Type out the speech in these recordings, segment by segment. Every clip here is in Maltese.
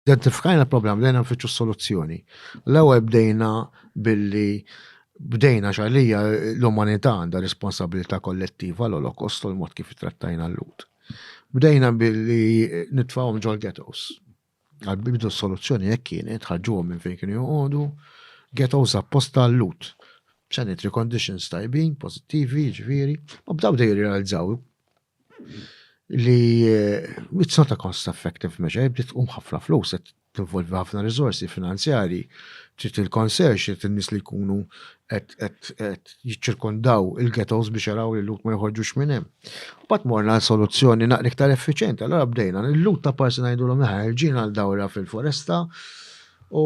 Identifikajna l-problem, bdejna nfittxu soluzzjoni. L-ewwel bdejna billi bdejna xalija l-umanità għandha responsabilità kollettiva l-Olokost u l-mod kif trattajna l-lut. Bdejna billi nitfawhom ġol ghettos. Għal-bidu soluzzjoni jekk kienet ħarġuhom minn fejn kienu joqogħdu, ghettos apposta l-lut. Sanitary conditions tajbin, pozittivi, ġviri, u bdaw dej jirrealizzaw li it's not a cost effective measure, jibdi tqum ħafna flus, tinvolvi ħafna rizorsi finanzjari, trid il-konserx, trid in-nies li jkunu qed jiċċirkondaw il-ghettos biex jaraw li l-lut ma joħorġux minn hemm. Mbagħad morna għal soluzzjoni naqra iktar effiċjenti, allura bdejna l-lut ta' parsi ngħidulhom aħna ħerġin għal dawra fil-foresta u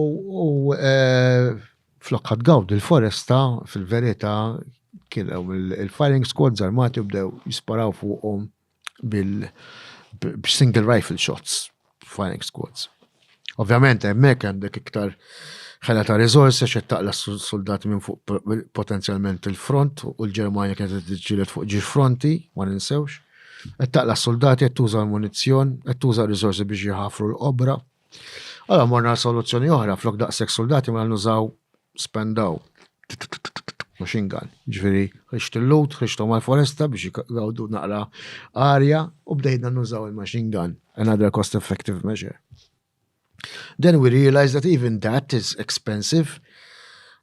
Flokka tgawdi l-foresta, fil-verità, kien hemm il-firing squads armati u bdew jisparaw fuqhom bil-single rifle shots, firing squads. Ovvjament, hemmhekk għandek iktar ħela ta' riżorsi għax qed taqla' suldati minn fuq potenzjalment il-front u l-Ġermanja kienet qed tiġġieled fuq ġiex fronti, ma ninsewx. Qed taqla' suldati, qed tuża l-munizzjon, qed tuża r-riżorsi biex jħaffru l-qobra. Allora morna soluzzjoni oħra flok daqshekk soldati ma mela nużaw spendaw machine gun. Ġifieri ħriġt il-lut, ħriġthom għall-foresta biex jgawdu naqra arja u bdejna nużaw il-machine gun. Another cost effective measure. Then we realized that even that is expensive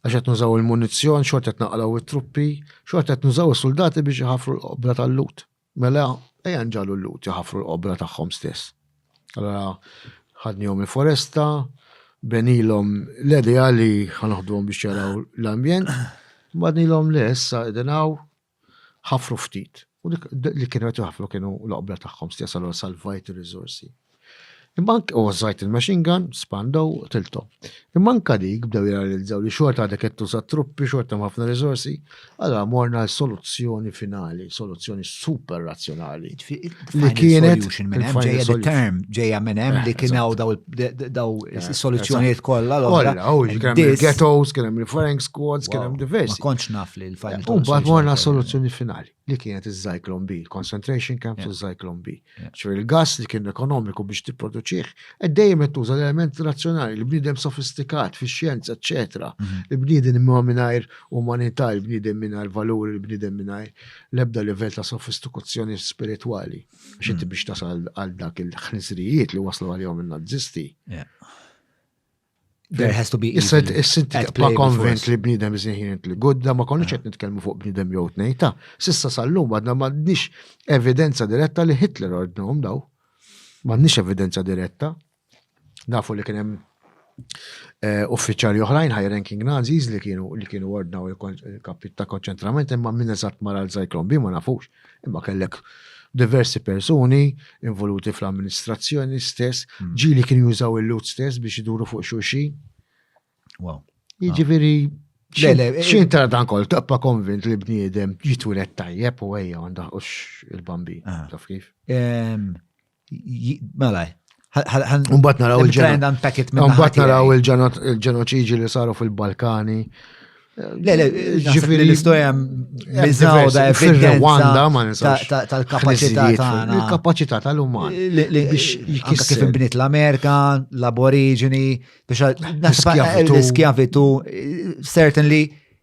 għax qed nużaw il-munizzjon, xorta qed naqlaw it-truppi, xorta qed nużaw is-soldati biex iħafru l-qobra tal-lut. Mela, ejja nġagħlu l-Lhud iħaffru l-qobra tagħhom stess. Allura ħadnihom il-foresta, benilhom l-idea li ħa naħduhom biex jaraw l-ambjent, badnilhom le issa qegħdin hawn ħaffru ftit. U li kienu qed iħaffru kienu l-qobra tagħhom stess allura salvajt ir-riżorsi. Imma anke u żajt il-machine gun, spandow u qtilthom. Imma anke dik bdew jirrealizzaw li xorta għadek qed tuża t-truppi, xorta hemm ħafna riżorsi, allura morna għal soluzzjoni finali, soluzzjoni super razzjonali. Li kienet solution minn hemm ġejja the term ġejja minn hemm li kien hawn daw is-soluzzjonijiet kollha l-oħra. Ghettos, kien hemm referring squads, kien hemm diversi. Ma kontx naf li l-final. U mbagħad morna soluzzjoni finali. li kienet iż-Zyklon B, il-concentration camps u Zyklon B. ċur il-gas li kien ekonomiku biex tipproduċih, qed dejjem qed tuża l-element razzjonali, li bniedem sofistikat fix-xjenza, eċetera, mhm. li bniedem imma mingħajr umanità, li bniedem mingħajr valuri, li bniedem mingħajr l-ebda livell ta' sofistikazzjoni spiritwali. Xinti mhm. biex tasal għal dak il-ħnisrijiet li waslu għalihom in-Nazisti. There has to be Issa ma konvent li bnidem iżinħin li gudda, ma konniex qed nitkellmu fuq bnidem jew tnejta. Sissa sallum għadna m'għandniex evidenza diretta li Hitler ordnhom daw. M'għandniex evidenza diretta. Nafu li kien hemm eh, uffiċjali oħrajn high ranking Nazis li kienu li kienu ordnaw il-kapit ta' konċentrament imma minn eżatt mara l-Zyklon B ma nafux. Imma kellek diversi persuni involuti fl-amministrazzjoni stess, hmm. ġili kien jużaw il-lut stess biex iduru fuq xulxin. Wow. Jiġifieri Xin tara dan kol, taqpa konvint li bniedem jitwilet tajjeb u għajja għanda ux il-bambi, taf kif? Mela, Umbat naraw il-ġenoċiġi li saru fil-Balkani. Le, le, ġifiri l-istoria mizzaw da fil-Rwanda ma nisax. Tal-kapacità tagħna. Il-kapacità tal-uman. Biex kif inbniet l-Amerika, l-Aborigini, biex l-iskjavitu, certainly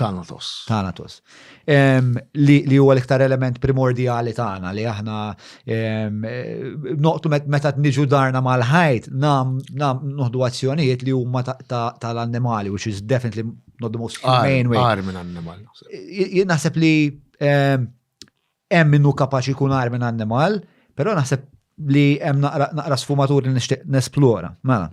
Thanatos. Thanatos. Li huwa l-iktar element primordjali tagħna li aħna noqtu meta niġu darna mal-ħajt nam noħdu azzjonijiet li huma tal-annimali, which is definitely not the most humane way. Għar minn annimal. Naħseb li Hemm min hu kapaċi jkun agħar minn annimal, però naħseb li hemm naqra naqra sfumatur li nixtieq nesplora. Mela.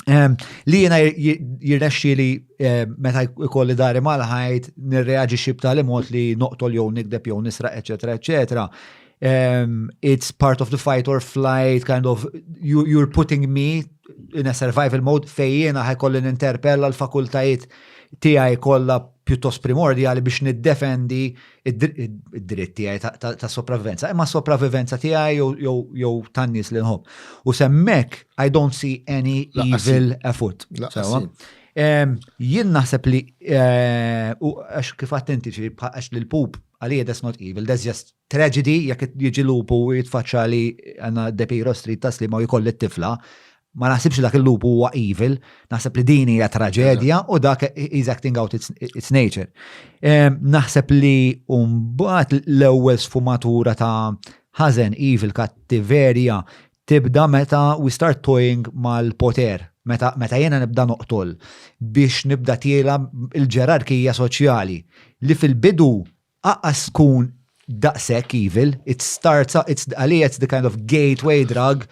Ehm, li jiena jirnexxi li ehm, meta jkolli dari mal-ħajt nirreaġixxi b'tali mod li noqtol jew nikdeb jew nisraq, eċetera, eċetera. Um, it's part of the fight or flight kind of you, you're putting me in a survival mode fejjena ħajkolli ninterpella l-fakultajiet tiegħi kollha pjuttost primordjali biex niddefendi id-dritt tiegħi ta' sopravivenza, imma sopravivenza tiegħi jew tan-nies li nħobb. U semmek, I don't see any evil effort. Jien naħseb li, eh, għax kif attenti ġi, għax li l-pup għalija that's not evil, that's just tragedy, jek jiġi lupu jitfaċċa li għanna depi rostri tasli ma jkolli t-tifla, ma naħsibx dak il-lup huwa evil, naħseb li din hija traġedja u dak is acting out its, its nature. Ehm, naħseb li mbagħad l-ewwel sfumatura ta' ħażen evil kattiverja tibda meta we start toying mal-poter, meta, meta jena nibda noqtol biex nibda tiela il-ġerarkija soċjali li fil-bidu Aqqas tkun daqshekk evil, it starts, għalija it's the kind of gateway drug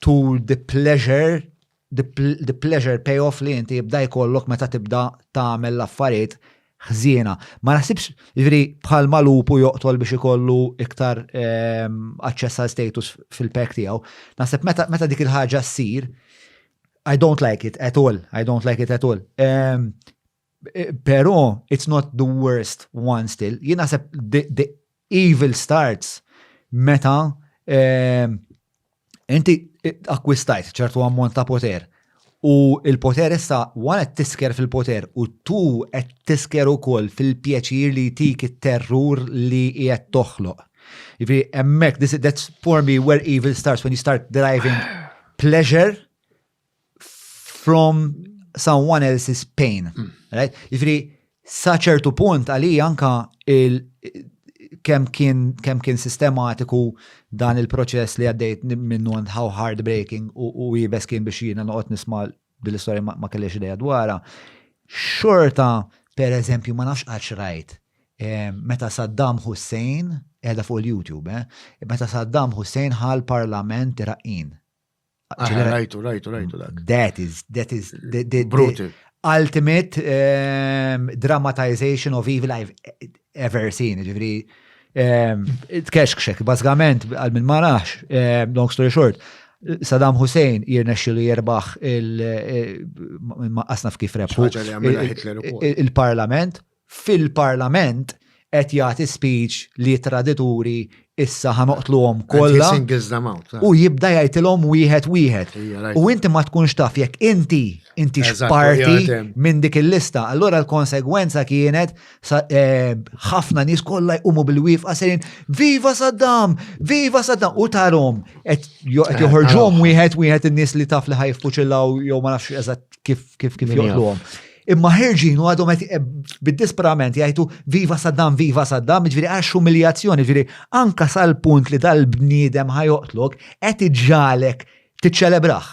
to the pleasure, the pleasure pay off li inti jibda jkollok meta tibda tagħmel l-affarijiet ħżiena. Ma naħsibx, jiġifieri bħalma lupu joqtol biex ikollu iktar aċċess għal status fil-pack tiegħu, naħseb meta dik il-ħaġa ssir, I don't like it at all, I don't like it at all. Pero, it's not the worst one still. Jina sepp the evil starts meta ehm, inti akkwistajt ċertu ammont ta' poter. U il-poter issa wara tisker fil-poter u tu qed tisker ukoll fil-pjaċir li tik it-terrur li qiegħed toħloq. Jiġifieri hemmhekk that's for me where evil starts when you start deriving pleasure from someone else's pain. Mm. Right? Jifri, sa ċertu punt għali anka il kem kien, kem kien sistematiku dan il-proċess li għaddejt minnu and how heartbreaking u, u jibes kien biex jina noqot nisma dil-istoria ma, ma kellex ideja dwara. Xorta, per eżempju, ma nafx għax rajt, eh, meta Saddam Hussein, edha fuq il-YouTube, eh, meta Saddam Hussein ħal parlament Iraqin Rajtu, rajtu, rajtu dak. That is, that is, the, the, the ultimate um, dramatization of evil I've ever seen, ġivri. Um, Tkexkxek, basgament, għal minn marax, um, long story short, Saddam Hussein jirna xilu jirbaħ il-maqasna eh, f'kif rebħu il-parlament, fil-Parlament qed jagħti speech li tradituri issa ħa noqtluhom kollha. U jibda jgħidilhom wieħed wieħed. U inti ma tkunx taf jekk inti inti x'parti minn dik il-lista. Allura l-konsegwenza kienet eh, ħafna nies kollha jqumu bil-wifqa sejn Viva Saddam! Viva Saddam! U tarhom qed eh, joħorġhom wieħed wieħed in-nies li taf li ħajfuċillaw jew ma nafx eżatt kif kif kif joqtluhom. Imma ħirġin u għadhom qed eh, bid-disperament jgħidu viva Saddam, viva Saddam, ġifieri għax umiljazzjoni, ġifieri anka sal-punt li dal-bniedem ħajoqtlok qed iġġalek tiċċelebraħ.